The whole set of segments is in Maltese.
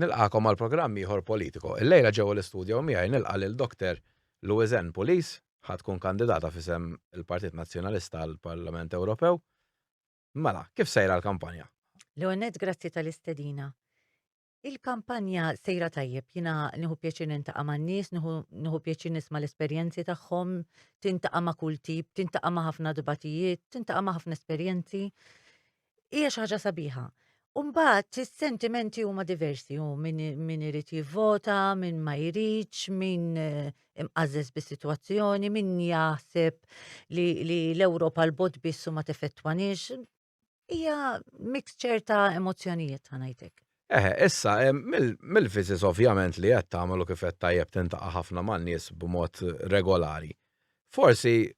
Nilqagħkom għal programm ieħor politiko. Illejla ġewwa l-istudjo miegħi nilqa' lil Dr. Louisanne Pulis, ħa tkun kandidata f'isem il-Partit Nazzjonalista għall-Parlament Ewropew. Mela, kif sejra l-kampanja? L-ewwel nett grazzi tal-istedina. Il-kampanja sejra tajjeb, jiena nieħu pjaċir nintaqa' man-nies, nieħu pjaċir nisma' l-esperjenzi tagħhom, tintaqa' ma' kull tip, tintaqa' ma' ħafna dbatijiet, tintaqa' ma' ħafna esperjenzi. hija xi ħaġa sabiħa. U mbagħad is-sentimenti huma diversi, u min, min irid jivvota, min ma jridx, min eh, imqażżeż bis-sitwazzjoni, min jaħseb li, li l-Ewropa l-bot biss u ma tefettwanix. Hija mixture ta' emozzjonijiet ħanajtek. Eħe, issa, eh, mill- mill-viżis ovvjament li qed tagħmel u kif qed tajjeb tintaqa' ħafna man-nies b'mod regolari. Forsi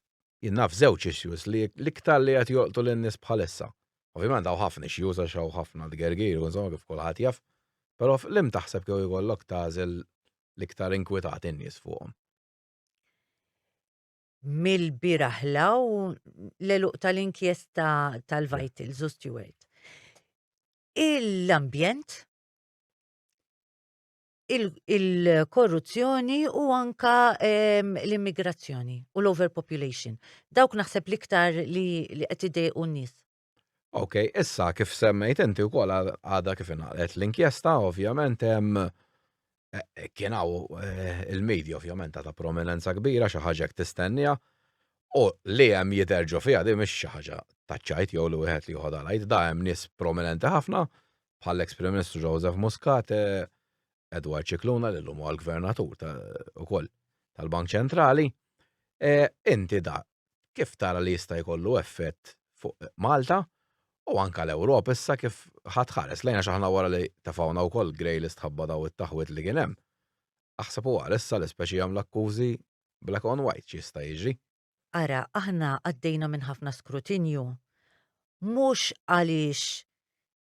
Jien naf żewġ issues li l-iktar li qed jolqtu lin-nies bħalissa. Ovvjament hawn ħafna issues għax hawn ħafna tgergir u insomma kif kulħadd jaf. Però f'liem taħseb kieku jkollok tagħżel l-iktar inkwitati n-nies fuqhom? Mill-bieraħ 'l hawn l-għeluq tal-inkjesta tal-Vitals u Steward. L-ambjent. il-korruzzjoni u anka ehm, l-immigrazzjoni u l-overpopulation. Dawk naħseb l-iktar li qed idejqu n-nies. Ok, issa kif semmejt inti wkoll għadha kif inqalet l-inkjesta ovvjament hemm eh, eh, kien hawn eh, il-medja ovvjament ta' prominenza kbira xi ħaġa tistennija u li hemm jidher ġo fiha di mhix xi ħaġa taċċajt jew li wieħed li joħodha lajt da hemm nies prominenti ħafna bħall-eks Prim Ministru Joseph Muscat, Edward Cicluna li l-lum għal gvernatur ukoll tal-Bank Ċentrali. E, inti da, kif tara li jista' jkollu effett fuq Malta u anka l-Ewropa issa kif ħadd ħares lejna xaħna wara li tafawna wkoll grej li stħabba daw it-taħwit li kien hemm. Aħseb u għal issa l-ispeċi jagħmlu akkużi black on white x'jista' jiġri. Ara, aħna għaddejna minn ħafna skrutinju, mhux għaliex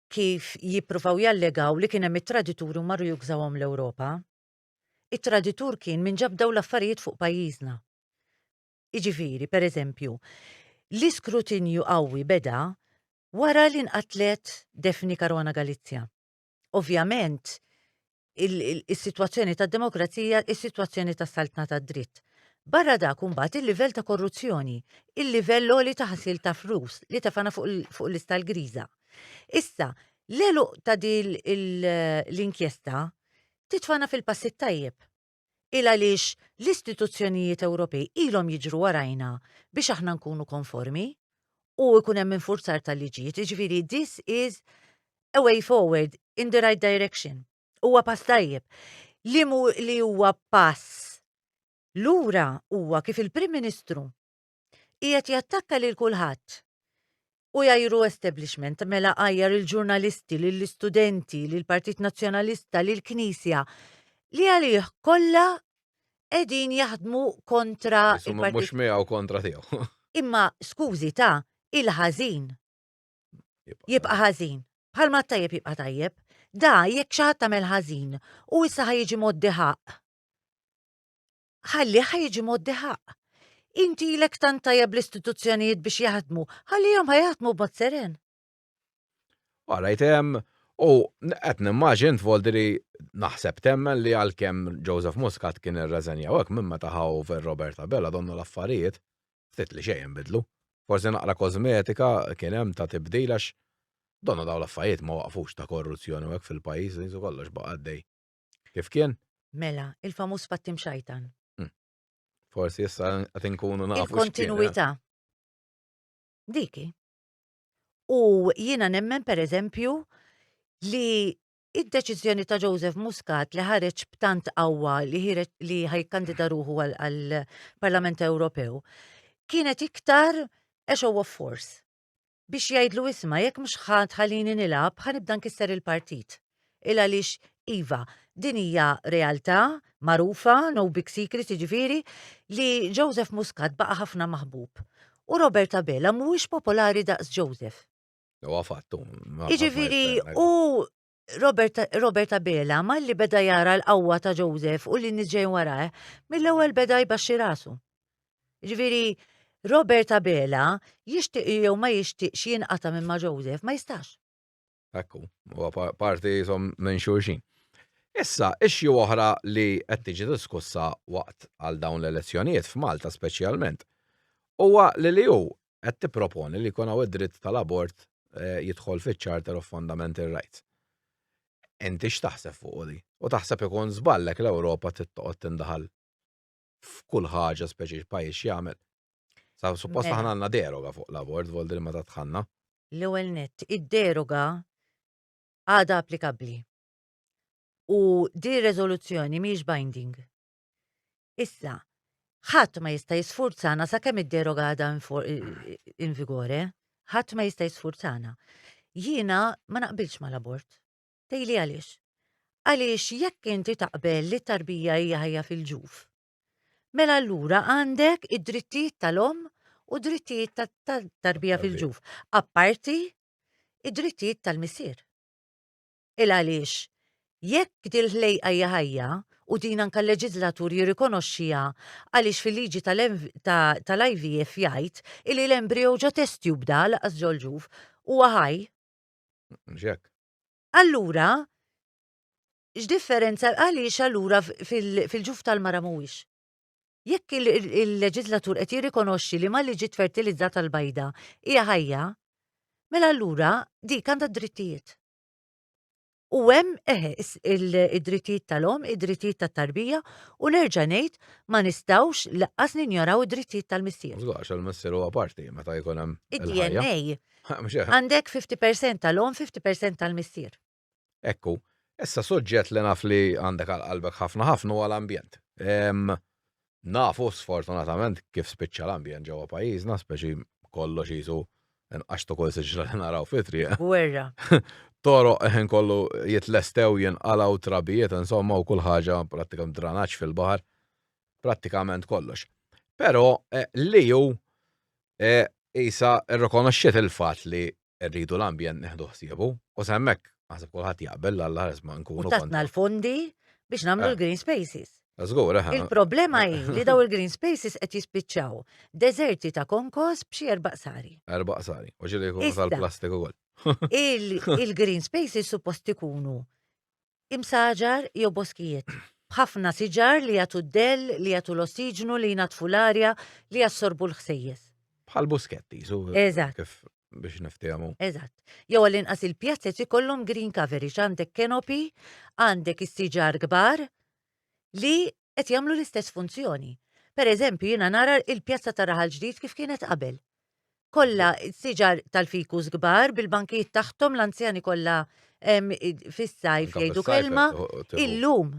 kif jippruvaw jallegaw li kien hemm it-tradituri u marru jugżawhom l-Ewropa. It-traditur kien min ġab dawn l-affarijiet fuq pajjiżna. Jiġifieri, pereżempju, l-iskrutinju qawwi beda wara li nqatlet Daphne Caruana Galizia. ovvjament, is-sitwazzjoni tad-demokrazija, is-sitwazzjoni tas-saltna tad-dritt. Barra dak imbagħad il-livell ta' korruzzjoni, il-livell għoli ta' ħasil ta' flus li tefana fuq l-lista l-griża. Issa, l-eluq ta' din l-inkjesta titfana fil-passi tajjeb. Il għaliex l-istituzzjonijiet Ewropej ilhom jiġru warajna biex aħna nkunu konformi u jkun hemm infurzar tal-liġijiet, jiġifieri this is a way forward in the right direction. Huwa pass tajjeb. Liemu li huwa pass lura huwa kif il-Prim Ministru Qiegħed jattakka lil kulħadd. U jajru establishment, mela għajjar il-ġurnalisti, lill-istudenti, lill-Partit Nazzjonalista, lill-Knisja, li għalih kollha qegħdin jaħdmu kontra il-Partit. Mhux miegħu kontra tiegħu. Imma skużi ta' il-ħażin. Jibqa' ħażin. Bħalma tajjeb jibqa' tajjeb. Da jekk xi ħadd tagħmel ħażin u issa ħajġi moddi ħaq. ħalli ħajġi moddi ħaq. Inti ilek tant tajjeb l-istituzzjonijiet biex jaħdmu, ħallihom ħajaħdmu b'mod seren. Wara jtem, u qed nimmaġin tvoldi li naħseb temmen li għalkemm Joseph Muscat kien irreżenjaw hekk minn meta ħaw ver Robert Abela donnu l-affarijiet ftit li xejn bidlu. Forsi naqra kosmetika kien hemm ta' tibdil għax donnu daw l-affarijiet ma waqfux ta' korruzzjoni hekk fil-pajjiż li kollox baqa' għaddej. Kif kien? Mela, il-famuż pattim xajtan. Hmm. Forsi issa qed inkunu nafu. Il-kontinuità. Eh? Diki. U jiena nemmen per eżempju li id-deċiżjoni ta' Joseph Muscat li ħareġ b'tant qawwa li ħajkandida ruħu għall-Parlament Ewropew kienet iktar a show of force. biex jgħidlu isma' jekk mhux ħa tħallini nilgħab ħa nibda nkisser il-partit. Il għaliex iva, din hija realtà magħrufa, no big secret jiġifieri, li Joseph Muscat baqa' ħafna maħbub. U Robert Abela mhuwiex popolari daqs Joseph. Huwa fatt hu. Jiġifieri hu Robert, Robert Abela, malli beda jara l-qawwa ta' Joseph u li niġġej warajh, mill-ewwel beda jbaxxi rasu. Ġifieri, Robert Abela jixtieq jew ma jixtieqx jinqata' minn ma' Joseph, ma jistax. Ekku, huwa parti jisom minn xulxin. Issa, ixxi oħra li qed tiġi diskussa waqt għal dawn l-elezzjonijiet f'Malta speċjalment huwa li li hu qed tipproponi li jkun hawn id-dritt tal-abort jidħol fiċ-Charter of Fundamental Rights. Inti x'taħseb fuq di? U taħseb ikun żballek l-Ewropa tittoqgħod tindaħal f'kull ħaġa speċi pajjiż jagħmel. Sa suppost mela. aħna għandna deroga fuq l-abort voldi ma tatħanna. L-ewwel nett, id-deroga għadha applikabbli. U di riżoluzzjoni mhix binding. Issa, ħadd ma jista' jisfurzana sakemm id-deroga għadha in vigore, ħadd ma jista' jisfurzana. Jiena ma naqbilx mal-abort. Tejli għaliex? Għaliex jekk inti taqbel li tarbija hija ħajja fil-ġuf, mela allura għandek id-drittijiet tal-om u drittijiet tat-tarbija fil-ġuf, apparti id-drittijiet tal-missier. Il għaliex, jekk dil-ħlejqa hija ħajja, u din anke l-leġiżlatur jirrikonoxxiha għaliex fil-liġi tal-IVF jgħid illi l-embrio ġo test tube da, lanqas ġo l-ġuf, huwa ħaj. Mhux hekk. Allura, x'differenza għaliex allura fil-ġuf tal-mara mhuwiex? Jekk il-leġislatur qed jirrikonoxxi li ma li ġiet fertilizzata l-bajda hija ħajja, mela allura dik għandha drittijiet. U hemm eħe id-drittijiet tal-om, id-drittijiet tat-tarbija u nerġa' ngħid ma nistgħux laqqas ninjoraw id-drittijiet tal-missier. Żgħax għall-missier huwa parti meta jkun hemm. Id-DNA. Għandek 50% tal-om, 50% tal-missier. Ekku, issa suġġett li naf li għandek għal qalbek ħafna ħafna huwa l-ambjent. Nafu sfortunatament kif spiċċa l-ambjent ġewwa pajjiżna, speċi kollox qisu inqax ta' kull siġra li naraw fit-triq. Gwerra. Toroq il-ħin kollu jitlestew, jinqalgħu, trabijiet, insomma, u kull ħaġa prattikament dranaġġ fil-baħar, prattikament kollox. Però l-EU qisha rrikonoxxiet il-fatt li rridu l-ambjent neħdu ħsiebu u semmek naħseb kulħadd jaqbel l alla ħares ma nkunu. U tatna l-fondi biex nagħmlu eh. l-green spaces. Żgur, eh, eh. Il-problema hi li daw il-green spaces qed jispiċċaw deżerti ta' konkos b'xi erba' sari. Erba' sari, u ġieli jkunu tal-plastik ukoll. Il-green spaces suppost ikunu Imsaġar jew boskijiet, b'ħafna siġar li jagħtu d-dell, li jagħtu l-ossiġnu, li jnaddfu l-arja, li jassorbu l-ħsejjes. Bħal buskett qisu. Eżatt. Kif biex niftiehmu. Eżatt. Jew għall-inqas il-pjazez ikollhom green coverage, għandek canopy, għandek is-siġar kbar li qed jagħmlu l-istess funzjoni. Per eżempju, jiena nara il-pjazza ta' Raħal Ġdid kif kienet qabel. Kollha siġar tal-fikus kbar bil-bankijiet taħtom l-anzjani kollha fis-sajf jgħidu kelma illum.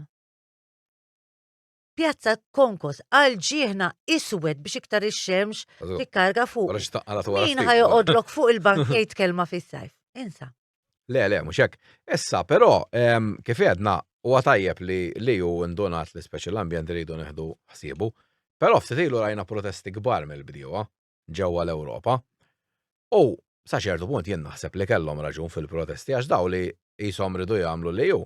Pjazza Konkos għal ġieħna iswed biex iktar ix-xemx tikkarga fuq. Min ħajoqodlok fuq il-bank jgħid kelma fis-sajf. Insa. Le, le, mhux hekk. Issa, però, kif għedna, huwa tajjeb li li hu ndunat li speċi l-ambjent iridu neħdu ħsiebu, però ftit ilu rajna protesti kbar mill-bdiewa ġewwa l-Ewropa. U sa ċertu punt jien naħseb li kellhom raġun fil-protesti għax dawn li qishom ridu jagħmlu li hu.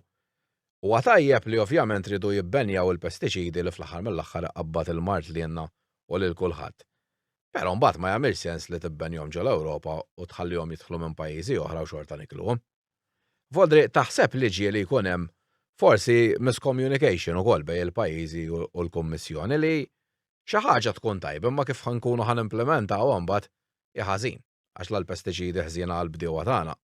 Huwa tajjeb li ovvjament ridu jibbenjaw il-pestiċidi li fl-aħħar mill-aħħar iqabbad il-mard lilna u lil kulħadd. Però mbagħad ma jagħmilx sens li tibbenjhom ġo l-Ewropa u tħallihom jidħlu minn pajjiżi oħra u xorta nikluhom. Vodri, taħseb li ġieli jkun hemm forsi miscommunication ukoll bejn il-pajjiżi u l-Kummissjoni li xi ħaġa tkun tajba imma kif ħa nkunu ħa nimplimentawha mbagħad hi ħażin għax la l-pestiċidi ħżiena għall-bdiewa tagħna.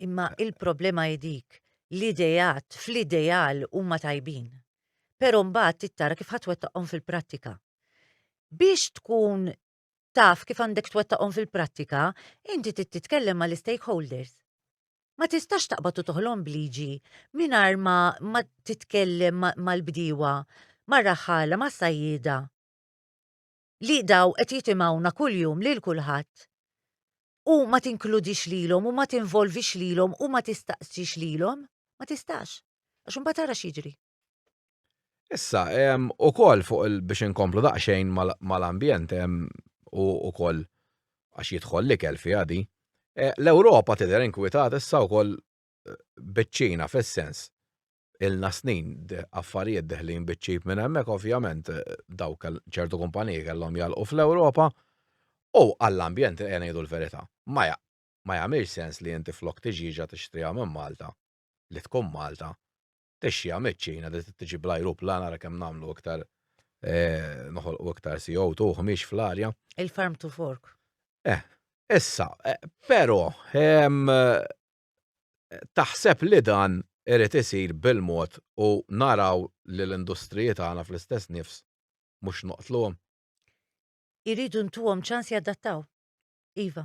Imma il-problema hi dik, l-ideat fl-ideal huma tajbin. Però mbagħad trid tara kif ħa twettaqhom fil-prattika. Biex tkun taf kif għandek twettaqhom fil-prattika, inti trid titkellem mal-istakeholders. Ma tistax taqbad u toħlom b'liġi mingħajr ma, ma titkellem mal-bdiewa, mar-raħħala, mas-sajjieda. Li daw qed jitimgħuna kuljum lil kulħadd u ma tinkludix lilhom u ma tinvolvix lilhom u ma tistaqsix lilhom, ma tistax. Għax imbagħad tara x'jiġri. Issa, ukoll fuq il biex inkomplu daqsxejn mal-ambjent u ukoll għax jidħol l-ikel fiha di, l-Ewropa tidher inkwitata issa wkoll biċ-Ċina fis-sens, ilna snin affarijiet deħlin biċ-ċip minn hemmhekk ovvjament dawk ċertu kumpaniji kellhom jagħlqu fl-Ewropa u għall-ambjent ejja ngħidu l-verità ma ma jagħmilx sens li inti flok tiġiġa tixtriha minn Malta li tkun Malta tixja miċ-Ċina li tiġi bl-ajruplan ara kemm nagħmlu iktar eh, noħolqu iktar CO2 u ħmiex fl-arja. Il-farm to fork. Eh, issa, eh, però ehm, taħseb li dan irid isir bil-mod u naraw li l-industriji tagħna fl-istess nifs mhux noqtluhom. Iridu ntuhom ċans jadattaw. Iva.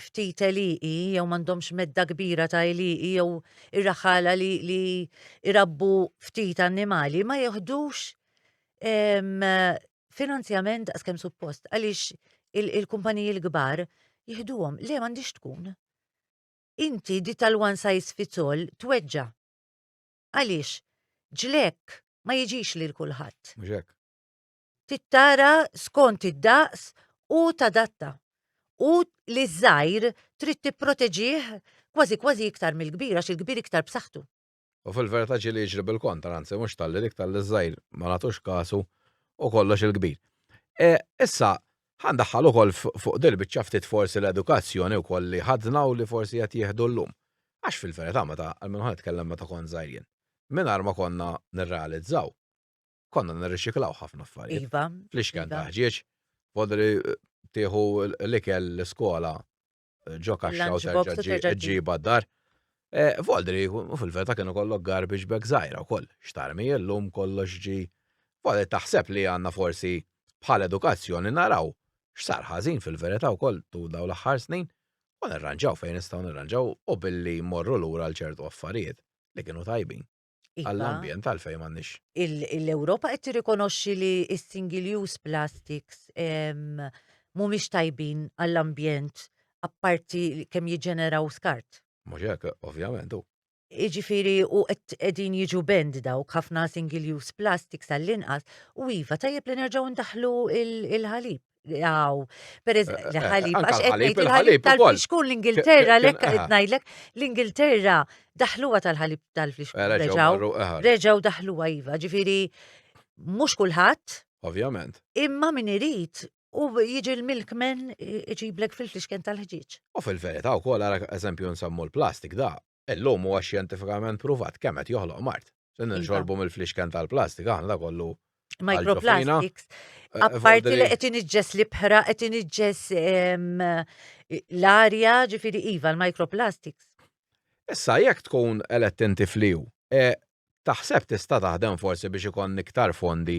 ftit għelieqi jew m'għandhomx medda kbira ta' għelieqi jew ir-raħala li, li irabbu ftit annimali ma jeħdux em, finanzjament daqs kemm suppost għaliex il- il-kumpaniji l-kbar jihduhom le m'għandix tkun. Inti di tal-one size fits all tweġġa. Għaliex ġlek ma jiġix lil kulħadd. Mhux hekk. tittara skont id-daqs u tadatta u li ż-żgħir trid tipproteġih kważi kważi iktar mill-kbir għax il-kbir iktar b'saħħtu. U fil-verità ġieli jiġri bil-kontra, anzi mhux talli dik talli ż-żgħir ma nagħtux kasu u kollox il-kbir. Issa, ħa ndaħħal ukoll fuq din il-biċċa ftit forsi l-edukazzjoni wkoll li ħadna u li forsi qed jieħdu llum. Għax fil-verità meta, almenu ħa nitkellem meta kont żgħir jien, mingħajr ma konna nirrealizzaw, konna nirriċiklaw ħafna affarijiet. Iva. Fl-ixken iva. taħġieġ, podri eh, tieħu l-ikel l-iskola eh, ġo kaxxa u terġa' ġiba d-dar. Eh, Voldri, u fil-veta kienu kollok garbage bag zaħira u koll, xtarmi l-lum kollox ġi. Voldri taħseb li għanna forsi bħal edukazzjoni naraw x'sar ħażin fil-verita u koll tu daw l-aħħar snin u nirranġaw fejn nistgħu nirranġaw u billi morru lura l ċertu affarijiet li kienu tajbin. Iva. Għall-ambjent għalfejn m'għandniex. L-Ewropa qed tirrikonoxxi li s-single use plastics mhumiex tajbin għall-ambjent apparti kemm jiġġeneraw skart. Mhux hekk, ovvjament u. Iġifiri u qegħdin jiġu bend dawk ħafna single use plastics għall-inqas u iva tajjeb li nerġgħu ndaħlu il-ħalib. Għaw, per eh, eh, ħalib, għax għetnejt il-ħalib tal-fixkun l-Ingilterra, l-ek għetnajdlek, l-Ingilterra daħluwa tal-ħalib tal-fixkun. Eh, reġaw, reġaw daħluwa jiva, ġifiri, mux kullħat. Ovvjament. Imma min irid u jiġi l-milkmen iġiblek fil-fixken tal-ħġieġ. U fil-verita u kol, għara eżempju nsammu l-plastik da, Illum huwa xjentifikament pruvat kemm qed joħloq mard. Se Iva. nixorbu mill-flixken tal-plastika aħna da kollu. Microplastics. Eh, Apparti fordi li li- qed iniġġes l-ibħra, qed iniġġes em, l-arja, ġifieri iva l-microplastics. Issa jekk tkun elett inti fliu, e, taħseb tista' taħdem forsi biex ikon iktar fondi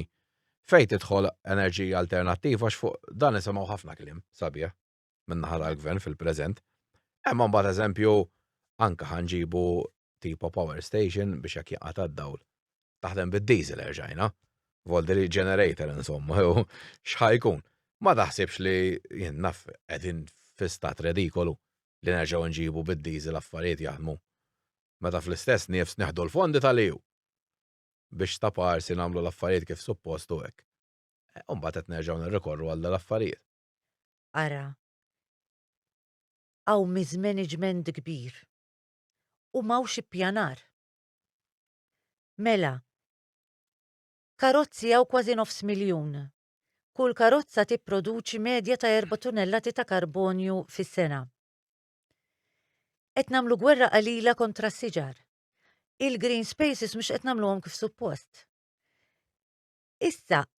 fejn tidħol enerġija alternattiva għax fuq dan isimgħu ħafna kliem sabiħ. min-naħa tal-gvern fil-preżent. Imma mbagħad eżempju anke ħanġibu tipo power station biex jekk jaqata d-dawl. Taħdem bid-diesel erġajna. Volderi generator insomma, jew xħajkun. Ma taħsibx li jien naf qegħdin fi stat redikolu li nerġgħu nġibu bid-diesel affarijiet jaħdmu. Meta fl-istess nifs neħdu l-fondi tal-EU biex ta' parsi nagħmlu l-affarijiet kif suppostu hekk. Umbagħad qed nerġgħu nirrikorru għal l-affarijiet. ara, hawn miżmeniġment kbir u m'hawnx ippjanar. Mela, karozzi hawn kważi nofs miljun. Kull karozza tipproduċi medja ta' erba' tunellati ta' karbonju fis-sena. Qed nagħmlu gwerra qalila kontra s-siġar. Il-green spaces mhux qed nagħmluhom kif suppost. Issa,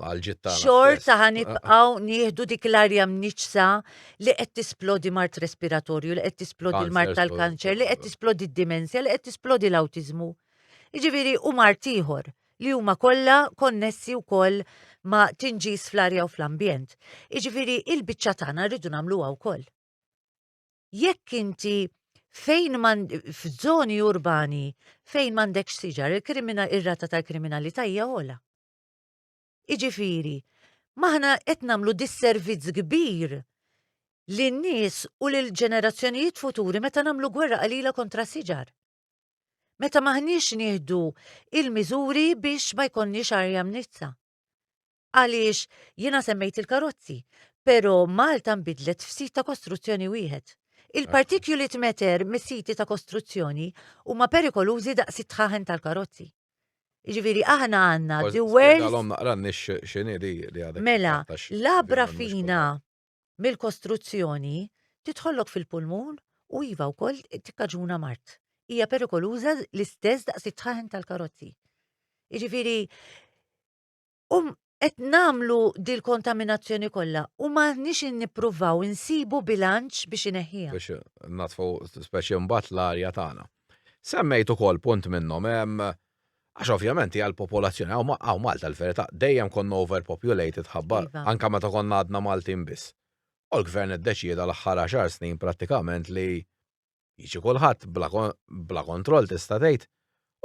għal-ġittana. Xorta ħanibqaw ah. nieħdu dik l-arja mniċsa li qed tisplodi mart respiratorju, li qed tisplodi l-mart tal-kanċer, li qed tisplodi d-dimensja, li qed tisplodi l-awtiżmu. Iġifieri u mart ieħor li huma kollha konnessi wkoll ma' tinġis fl-arja u fl-ambjent. Iġifieri il-biċċa tagħna rridu nagħmluha wkoll. jekk inti fejn man f'żoni urbani fejn m'għandekx siġar il-krimina ir-rata tal-kriminalità hija ola. Iġifieri, maħna qed nagħmlu disservizz kbir lin nies u lil ġenerazzjonijiet futuri meta nagħmlu gwerra qalila kontra siġar. Meta maħniex nieħdu il-miżuri biex ma jkollniex arja mnizza. Għaliex, jiena semmejt il-karozzi, però Malta nbidlet f'sit ta' kostruzzjoni wieħed. Il-particulate matter mis-siti ta' kostruzzjoni huma perikolużi daqs it-tħaħen tal-karozzi. Jiġifieri aħna għandna the worst. Spiegħalhom naqra n-nies x'inhi li għadek. Mela, labra fina mill-kostruzzjoni tidħollok fil-pulmun u iva wkoll tikkaġuna mard. Hija perikoluża l-istess daqs it-tħaħen tal-karozzi. Jiġifieri um qed nagħmlu dil-kontaminazzjoni kollha u m'aħniex nippruvaw insibu bilanċ biex ineħħiha. Biex natfu speċi mbagħad l-arja tagħna. Semmejt ukoll punt minnhom hemm Għax ovvjament hija l-popolazzjoni hawn ma- hawn Malta l-verità dejjem konna overpopulated ħabba Iva. anke meta konna għadna Maltin biss. U l-Gvern iddeċieda l-aħħar għaxar snin prattikament li jiġi kulħadd bla ko- bla kontroll tista' tgħid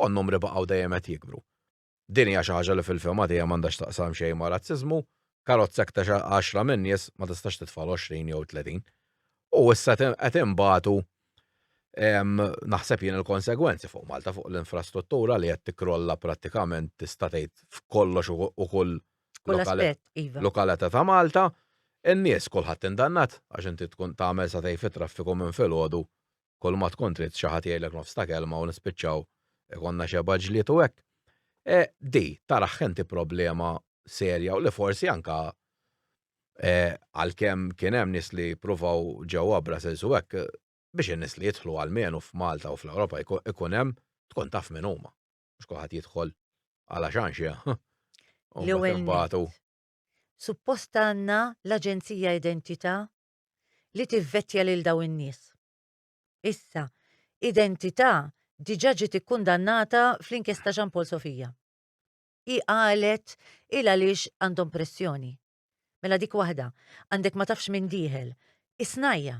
u n-numri baqgħu dejjem qed jikbru. Din hija xi ħaġa li fil-fehma tiegħi m'għandha x'taqsam xejn ma' razziżmu, karozza aktarx għal għaxra minn nies ma tistax titfa' l-għoxrin jew it-tletin. U issa qed inbatu naħseb jien il-konsegwenzi fuq Malta fuq l-infrastruttura li qed tikkrolla prattikament tista' tgħid f'kollox u kull iva. lokalata ta' Malta. In-nies kulħadd indannat għax inti tkun tagħmel sa tgħid fit-traffiku minn filgħodu kull ma tkun trid xi ħadd jgħidlek nofs ta' kelma u nispiċċaw ikollna xebgħa ġlied u hekk. E, di, taraħ inti problema serja u li forsi anka e, għalkemm kien hemm nies li pruvaw ġewwa Brussels u hekk biex in-nies li jidħlu għalmenu f'Malta u fl-Ewropa ikun hemm tkun taf min huma. Mhux kulħadd jidħol għala xanxja. L-ewwel Suppost għandna l-Aġenzija Identità li tivvettja lil dawn in-nies. Issa, Identità diġà ġiet ikkundannata fl-inkjesta Jean Paul Sofia. Hi qalet il għaliex għandhom pressjoni. Mela dik waħda, għandek ma tafx min dieħel. Isnajja!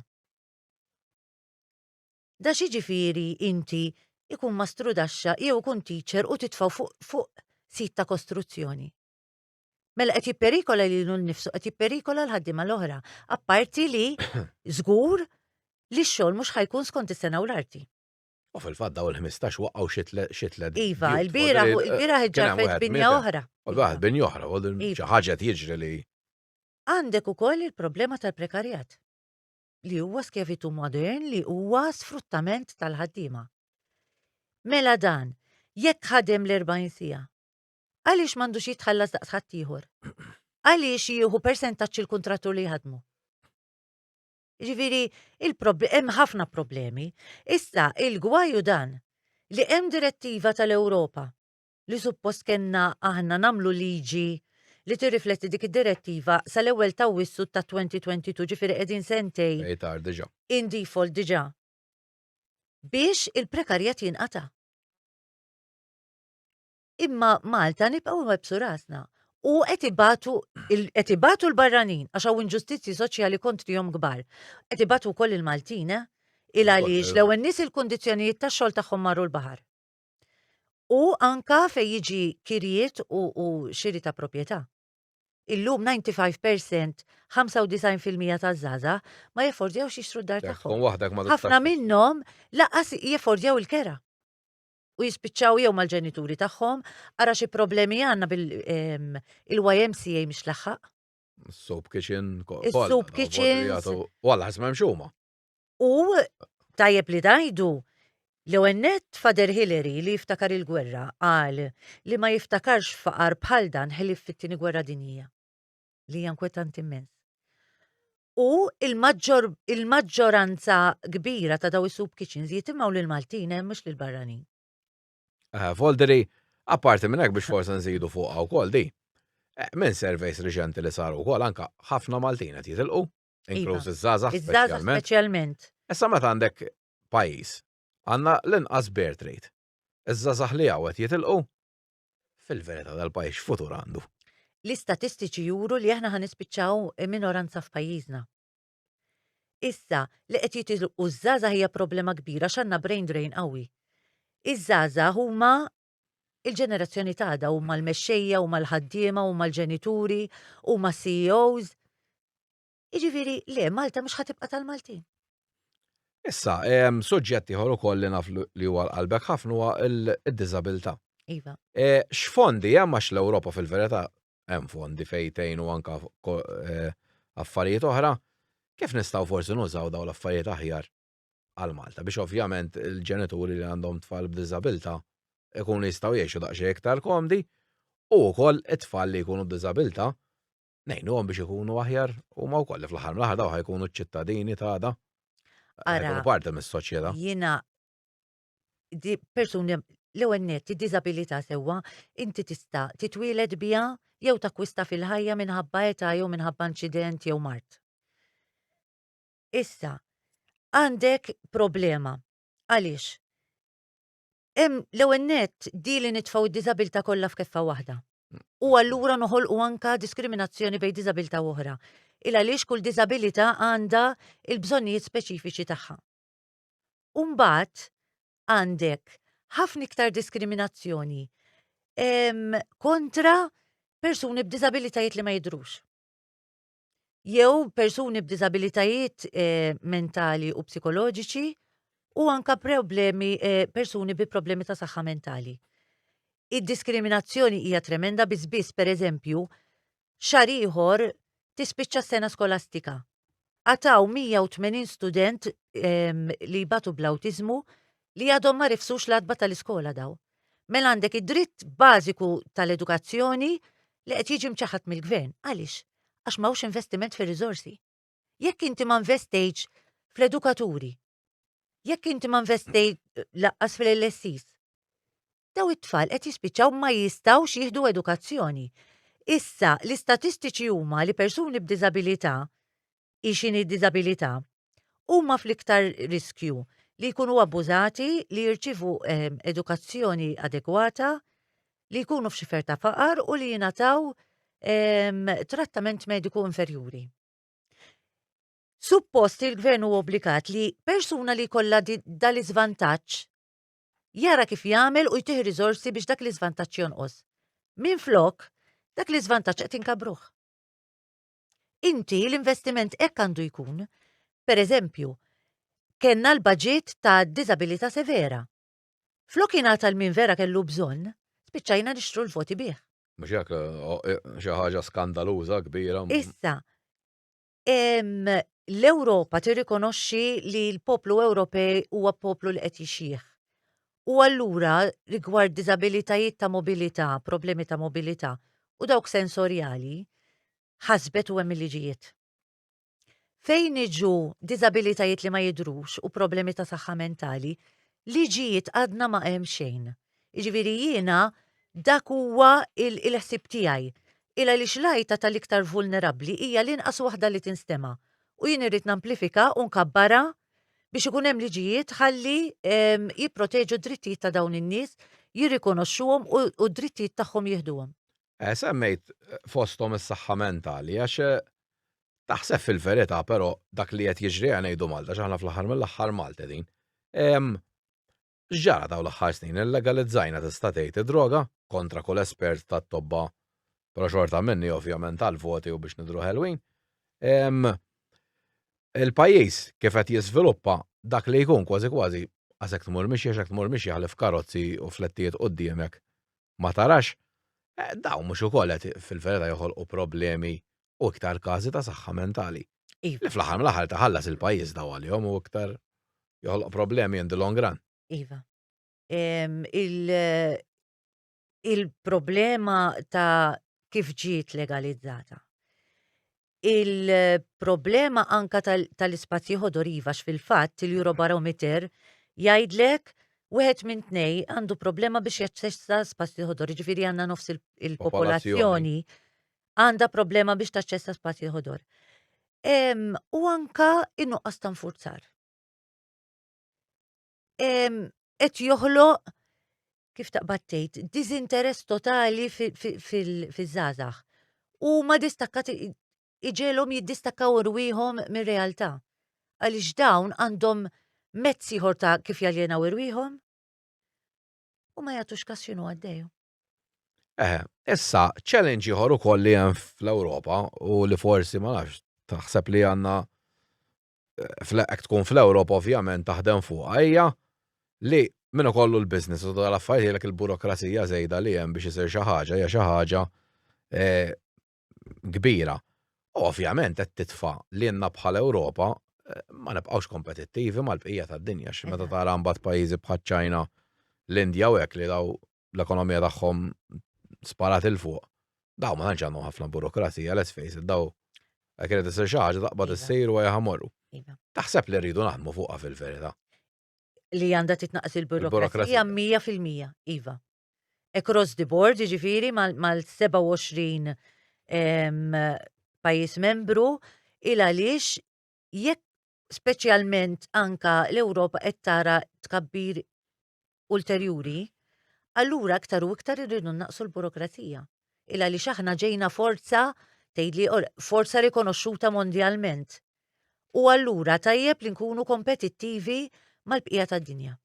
Da x'jiġifieri inti ikun mastrudaxxa jew ikun teacher u titfgħu fuq fuq sit ta' kostruzzjoni? Mela qed jipperikola lilu nnifsu, qed jipperikola l-ħaddiema l-oħra, apparti li żgur li x-xogħol mhux ħajkun skont is-sena u l-arti. U fil-fatt daw il-15 waqgħu xi tliet. Iva, il-bira il-bira ħġarfet binja oħra. U waħed binja oħra, u iva. xi ħaġa jiġri li. Għandek ukoll il-problema tal-prekarjat li huwa skevitu modern li huwa sfruttament tal-ħaddiema. Mela dan, jekk ħadem l-40 sija, Għaliex m'għandux jitħallas daqs ħaddieħor? Għaliex jieħu persentaġġ il-kuntrattur li jħadmu? Ġifieri, hemm ħafna problemi. Issa, il-gwaju dan li hemm direttiva tal-Ewropa li suppost kellna aħna nagħmlu liġi li tirrifletti dik id-direttiva sal-ewwel ta' wissu ta' 2022 ġifieri qegħdin sentej. Ejtar diġà. In default diġà. Biex il-prekarjat jinqata'. Imma Malta nibqgħu nwebbsu rasna u qed ibatu qed ibatu l-barranin għax hawn inġustizzji soċjali kontrihom kbar. Qed ibatu wkoll il-Maltin eh? Il għaliex l-ewwel nies il-kundizzjonijiet tax-xogħol tagħhom marru l-baħar. U anka fejn jiġi kirjiet u, u xiri ta' proprjetà. Illum 95% 95% ta' zaza ma jeffordjawx jixtru d-dar tagħhom. Ħafna minnhom laqas jeffordjaw il-kera. u jispiċċaw jew mal-ġenituri tagħhom, ara xi problemi għandna bil-YMCA mhix laħħaq. Soup kitchen, soup kitchen. Walla ħasma mxuma. U tajjeb li dajdu l għennet Fader Hillary li jiftakar il-gwerra għal li ma jiftakarx faqar bħal dan ħelif fit-tieni gwerra dinija. li hija inkwetanti immens. U il-maġġoranza kbira ta' daw is-soup kitchens jitimgħu lil Maltin hemm mhux lil barranin. Eh, Volderi, apparti minn hekk biex forsi nżidu fuqha wkoll di. Eh, minn surveys riċenti li saru wkoll anka ħafna Maltin qed jitilqu, iva. inkluż iż-żgħażagħ speċjalment. speċjalment. Issa meta għandek pajjiż għandna l-inqas birth rate. Iż-żgħażagħ li hawn qed jitilqu Fil-verità dal-pajjiż x'futur għandu? L-istatistiċi juru li aħna ħa nispiċċaw minoranza f'pajjiżna. Issa, li qed jitilqu ż-żgħażagħ hija problema kbira x'għandna brain drain qawwi. Iż-żgħażagħ huma il-ġenerazzjoni t'għada, huma l-mexxejja, huma l-ħaddiema, huma l-ġenituri, huma CEOs. Jiġifieri le Malta mhux ħatibqa' tal-Maltin. Issa, suġġett ieħor ukoll li naf li huwa l-qalbek ħafna huwa d-diżabilità. Iva. E, x'fondi hemm għax l-Ewropa fil-verità hemm fondi fejtejn u anka e, affarijiet oħra, kif nistgħu forsi nużaw dawn l-affarijiet aħjar għal Malta biex ovvjament il-ġenituri li għandhom tfal b'diżabilità ikunu jistgħu jgħixu daqsxejn iktar komdi u wkoll it-tfal li jkunu b'diżabilità ngħinuhom biex ikunu aħjar u ma wkoll fl-aħħar mill-aħħar daw ħajkunu ċ-ċittadini ta' da. Ara, parti mis-soċjetà. Jiena di persuni l-ewwel net id-diżabilità sewwa inti tista' titwieled biha jew takwista fil-ħajja minħabba età jew minħabba inċident jew mart. Issa, għandek problema. Għaliex? Hemm l-ewwel nett di li nitfgħu d-diżabilità kollha f'keffa waħda. U allura noħolqu anka diskriminazzjoni bejn diżabilità u oħra. Il għaliex kull diżabilità għandha l-bżonnijiet speċifiċi tagħha. U mbagħad għandek ħafna iktar diskriminazzjoni kontra persuni b'diżabilitajiet li ma jidhrux. jew persuni b'diżabilitajiet eh, mentali u psikoloġiċi u anka problemi eh, persuni bi problemi ta' saħħa mentali. Id-diskriminazzjoni hija tremenda biss biss pereżempju xar ieħor tispiċċa s-sena skolastika. Ataw 180 student em, li jbatu bl-awtiżmu li għadhom ma rifsux l-adba tal-iskola daw. Mela għandek id-dritt bażiku tal-edukazzjoni li qed jiġi mċaħħad mill-Gvern. Għaliex? Għax m'hawnx investiment fir-riżorsi. Jekk inti ma nvestejtx fl-edukaturi, jekk inti ma nvestejt laqqas fil-LSIs, daw it-tfal qed jispiċċaw ma jistgħux jieħdu edukazzjoni. Issa, l-istatistiċi huma li persuni b'diżabilità hi x'inhi d-diżabilità, huma fl-iktar riskju li jkunu abbużati, li jirċievu edukazzjoni adegwata, li jkunu f'xifer ta' faqar u li jingħataw trattament mediku inferjuri. Suppost li l-Gvern huwa obbligat li persuna li jkollha dan l-iżvantaġġ jara kif jagħmel u jtih riżorsi biex dak l-iżvantaġġ jonqos. Minflok, dak l-iżvantaġġ qed inkabbruh. Inti l-investiment hekk għandu jkun. Per eżempju, kellna l-baġit ta' diżabilità severa. Flok jingħata l-min vera kellu bżonn, spiċċajna nixtru l-voti bih. Mhux hekk xi ħaġa skandaluża kbira. Issa, l-Ewropa tirrikonoxxi li l-poplu Ewropej huwa poplu li qed jixjieħ. U allura rigward diżabilitajiet ta' mobilità, problemi ta' mobilità u dawk sensorjali, ħasbet u hemm il-liġijiet. Fejn iġu diżabilitajiet li ma jidhrux u problemi ta' saħħa mentali, liġijiet għadna ma hemm xejn. Jiġifieri jiena dak huwa l-ħsieb tiegħi. Il għaliex l-għajta tal-iktar vulnerabbli hija l-inqas waħda li tinstema'. U jien irrid namplifika u nkabbarha biex ikun hemm liġijiet ħalli ehm, jipproteġu d-drittijiet ta' dawn in-nies, jirrikonoxxuhom u u d-drittijiet tagħhom jieħduhom. Eh, Semmejt eh, fosthom is-saħħa mentali għax eh, taħseb fil-verità però dak li qed jiġri għal ngħidu Malta x'aħna fl-aħħar mill-aħħar Malta din. Em, X'ġara dawn l-aħħar snin? Illegalizzajna tista' tgħid id-droga? Kontra kull espert tat-tobba, però xorta minnhi ovvjament għall-voti u biex nidhru ħelwin. Il-pajjiż kif qed jiżviluppa dak li jkun kważi kważi għax hekk tmur mixi għax hekk tmur mixi ħlief karozzi u flettijiet quddiemek ma tarax. Dawn mhux ukoll qed fil-verità joħolqu problemi u iktar każi ta' saħħa mentali. Iva. Li fl-aħħar mill-aħħar taħallas il-pajjiż daw għalihom u iktar joħloq problemi in the long run. Iva. Il-problema ta' kif ġiet legalizzata. Il-problema anka tal-ispazji ħodor iva fil-fatt il-Eurobarometer jgħidlek wieħed minn tnej għandu problema biex jaċċessa spazji ħodor, ġifieri għandna nofs il-popolazzjoni għandha problema biex taċċessa spazji ħodor. U anka in-nuqqas ta' nfurzar. Qed joħloq kif taqbad tgħid, diżinteress totali fiż-żgħażagħ. U ma distakkat iġelhom jiddistakkaw irwieħhom mir-realtà. Għaliex dawn għandhom mezz ieħor ta' kif jaljenaw irwieħhom. u ma jagħtux kas x'inhu għaddej. Eh, issa, challenge ieħor ukoll li hemm fl-Ewropa u li forsi ma nafx taħseb li għandna eh, tkun fl-Ewropa ovvjament taħdem fuq hija li minn kollu l-biznis u tal-affarijiet il-burokrazija żejda li hemm biex isir xi ħaġa hija xi ħaġa eh, kbira. U ovvjament qed titfa' lilna bħala Ewropa eh, ma nibqgħux kompetittivi mal-bqija tad-dinja xi meta tara mbagħad pajjiżi bħaċ-Ċina, l-Indja u hekk li daw l-ekonomija tagħhom sparat il fuq. Daw ma tantx għandhom ħafna burokrazija, let's face it, daw għek irid isir xi ħaġa taqbad iva. issir u jaħamorru. Iva. Taħseb li rridu naħdmu fuqha fil-verità. Li għandha titnaqas il-burokrazija 100% iva. across the board, jiġifieri mal-27 pajjiż membru, il għaliex jekk speċjalment anka l-Ewropa qed tara tkabbir ulterjuri, allura aktar u iktar irridu naqsu l-burokrazija. Il għaliex aħna ġejna forza tgħidli forza rikonoxxuta mondjalment. U allura tajjeb li nkunu kompetittivi mal-bqija tad-dinja.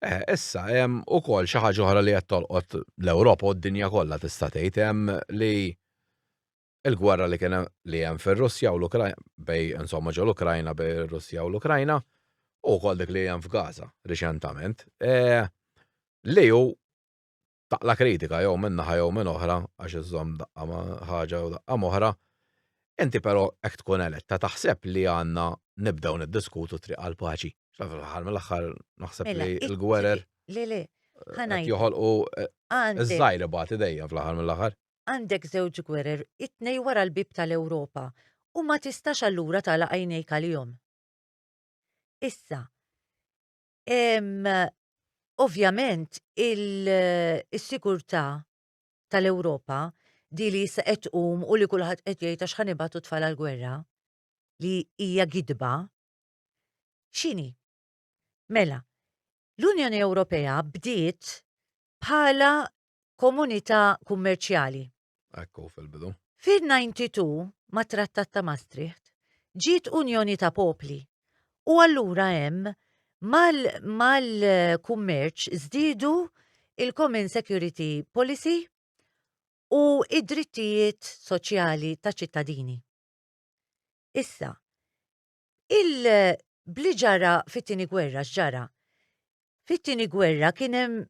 Eh, issa hemm ukoll xi ħaġa oħra li qed tolqot l-Ewropa u d-dinja kollha tista' tgħid hemm li l-gwerra li kien li hemm fir-Russja u l-Ukrajna bej insomma ġol Ukrajna bej ir-Russja u l-Ukrajna u wkoll dik li hemm f'Gaza riċentament eh, li hu taqla' kritika jew minn naħa jew minn oħra għax iżżomm daqqa ma' ħaġa u daqqa m'oħra, inti però hekk tkun eletta taħseb li għandna nibdew niddiskutu t-triq għall-paċi? Fl-aħħar mill-aħħar naħseb li l-gwerer qed joħolqu ż-żgħir ibati dejjem fl-aħħar mill-aħħar. Għandek żewġ gwerer, it-tnejn wara l-bieb tal-Ewropa, u ma tistax allura tagħlaq għajnejk għalihom. Issa, Ovvjament, il-sigurtà tal-Ewropa di li jissa qed tqum u li kulħadd qed jgħid għax ħan ibatu tfal għall-gwerra li hija gidba. X'inhi? Mela, l-Unjoni Ewropea bdiet bħala komunità kummerċjali. Ekku fil-bidu. Fil-92, mat-Trattat ta' Maastricht, ġiet Unjoni ta' Popli u allura hemm mal-kummerċ mal żdiedu il-Common Security Policy u id-drittijiet soċjali ta' ċittadini. Issa, Il bli ġara fit-tieni gwerra x'ġara? Fit-tieni gwerra kien hemm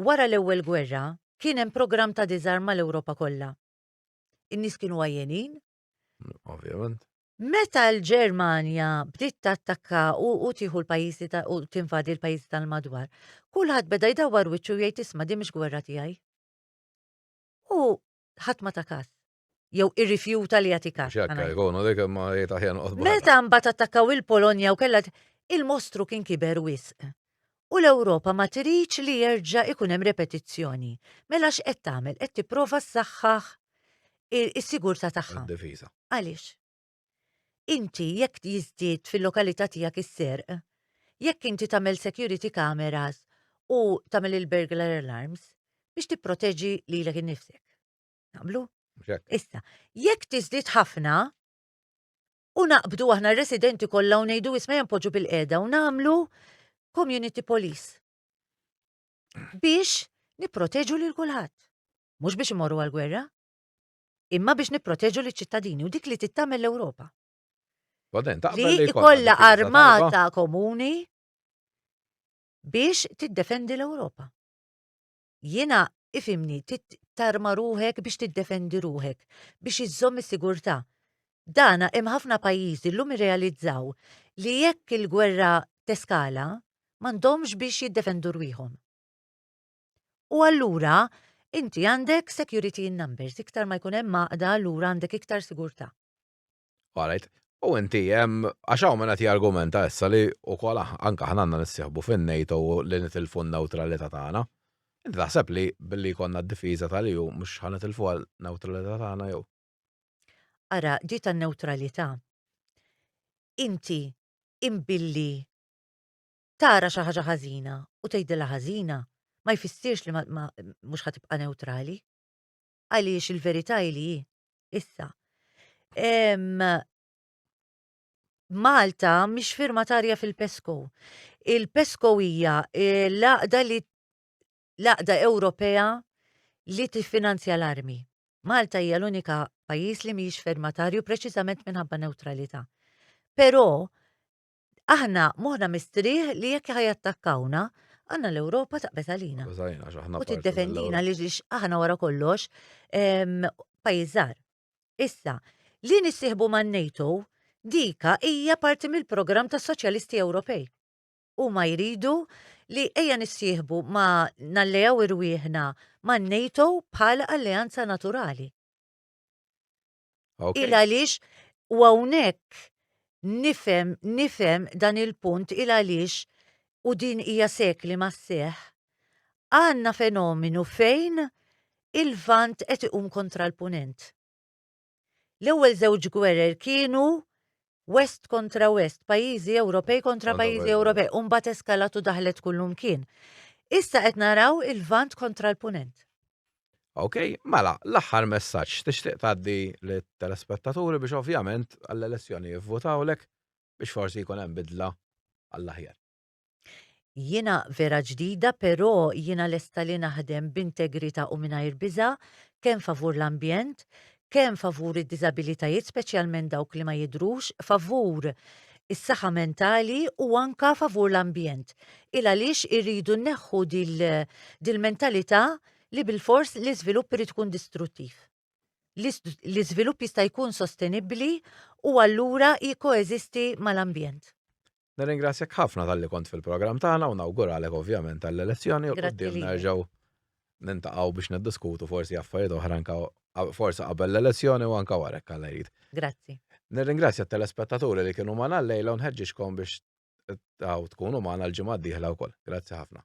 wara l-ewwel gwerra kien hemm programm ta' diżarm mal-Ewropa kollha. In-nies kienu għajjenin. Ovvjament. Meta l-Ġermanja bdiet tattakka u tieħu l-pajjiżi u tinvadi l-pajjiżi tal-madwar, kulħadd beda jdawwar wiċċu jgħid isma' din mhix gwerra tiegħi. U ħadd ma ta' każ. jew irrifjuta li jagħti każ. X'akka jkunu dik imma jgħid aħjar noqgħod Meta mbagħad attakkaw il-Polonja u kellha il-mostru kien kiber wisq. U l-Ewropa ma tridx li jerġa' ikun hemm repetizzjoni. Mela x'qed tagħmel? Qed tipprova ssaħħaħ is-sigurtà tagħha. Difiża. Għaliex? Inti jekk jiżdied fil-lokalità tiegħek is-serq, jekk inti tagħmel security cameras u tagħmel il-burglar alarms biex tipproteġi lilek innifsek. Naqblu? Issa, jekk tiżdied ħafna, u naqbdu aħna residenti kollha u ngħidu isma' jempoġu bil-qeda u nagħmlu community police. Biex nipproteġu lil kulħadd. Mhux biex imorru għal-gwerra, imma biex nipproteġu liċ ċittadini u dik li tittamel l-Ewropa. Li ikolla armata komuni biex tiddefendi l-Ewropa. Jiena ifhimni trid tarma ruħek biex tiddefendi ruħek, biex iżżomm is-sigurtà. Dana hemm ħafna pajjiżi llum irrealizzaw li jekk il-gwerra teskala m'għandhomx biex jiddefendu rwieħhom. U allura inti għandek security in numbers, iktar ma jkun hemm għaqda allura għandek iktar sigurtà. All right. U inti, għax hawn minn qed jargumenta issa li wkoll anke aħna għandna nissieħbu fin-NATO li nitilfu n-newtralità tagħna. Inti taħseb li billi jkollna d-difiża tal-EU mhux ħa nitilfu n-newtralità tagħna jew? Ara, ġi tan-newtralità. Inti imbilli tara xi ħaġa ħażina u tgħidilha ħażina ma jfissirx li mhux ħa tibqa' newtrali. għaliex il-verità hi li hi. Issa. Em, Malta mhix firmatarja fil-PESCO. Il-PESCO hija eh, l-għaqda li l-għaqda Ewropea li tiffinanzja l-armi. Malta hija l-unika pajjiż li mhijiex firmatarju preċiżament minħabba neutralità. Però Aħna moħħna mistrieħ li jekk ħa jattakkawna, għandna l-Ewropa taqbet għalina. U tiddefendina li ġiex aħna wara kollox pajjiżar. Issa, li nissieħbu man NATO dika hija parti mill-programm tas Soċjalisti Ewropej. U ma jridu li ejja nissieħbu ma nallejaw irwieħna man NATO bħal alleanza naturali. Okay. Il għaliex u hawnhekk nifhem nifhem dan il-punt il għaliex u din hija sekli ma seħ. Għandna fenomenu fejn il-vant qed iqum kontra l-punent. L-ewwel żewġ gwerer kienu West kontra West, pajjiżi Ewropej kontra pajjiżi Ewropej, u mbagħad eskalat u daħlet kullumkien. Issa qed naraw il-Lvant kontra l-Punent. Ok, mela, l-aħħar messaġġ tixtieq tgħaddi lit-telespettaturi biex ovvjament għall-elezzjoni jivvutawlek biex forsi jkun hemm bidla għall-aħjar. Jiena vera ġdida però jiena lesta li naħdem b'integrità u mingħajr biża' kemm favur l-ambjent, kemm favur id-diżabilitajiet speċjalment dawk li ma jidhrux, favur is-saħħa mentali u anke favur l-ambjent. Ilgħaliex irridu nneħħu dil-mentalità li bilfors l-iżvilupp irid ikun distruttiv. l-iżvilupp jista' jkun sostenibbli u allura jikkoeżisti mal-ambjent. Nirringrazzjak ħafna tal-li kont fil-programm tagħna u nawguralek ovvjament għall-elezzjoni u qudiem nerġgħu nintaqgħu biex niddiskutu forsi affarijiet oħra anka forsi qabel l-elezzjoni u anka warek għal jrid. Grazzi. Nirringrazzja t-telespettaturi li kienu magħna l-lejla u nħeġġixkom biex taw tkunu magħna l-ġimgħa d-dieħla wkoll. Grazzi ħafna.